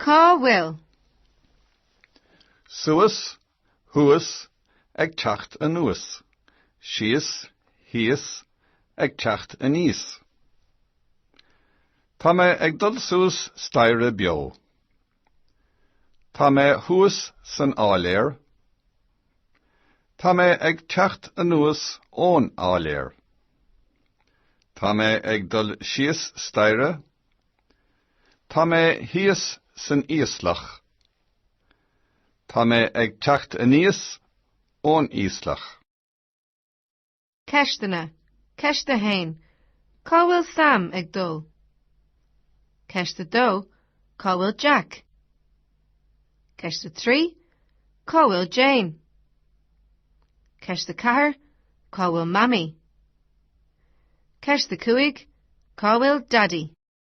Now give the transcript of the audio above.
Cá bhfuil? Suas, thuas, ag teacht anuas. Síos, thíos, ag teacht aníos. Tá mé ag dul suas staighre beo. Tá mé thuas san áiléar. Tá mé ag teacht anuas ón áiléar. Tá mé ag dul síos staighre. Tá mé thíos san íoslach. Tá mé ag teacht aníos ón íoslach. Ceisteanna, Ceist 1, Cá bhfuil Sam ag dul? Ceist 2, Cá bhfuil Jack? Ceist 3, Cá bhfuil Jane? Ceist 4, Cá bhfuil Mamaí? Ceist 5, Cá bhfuil Daidí?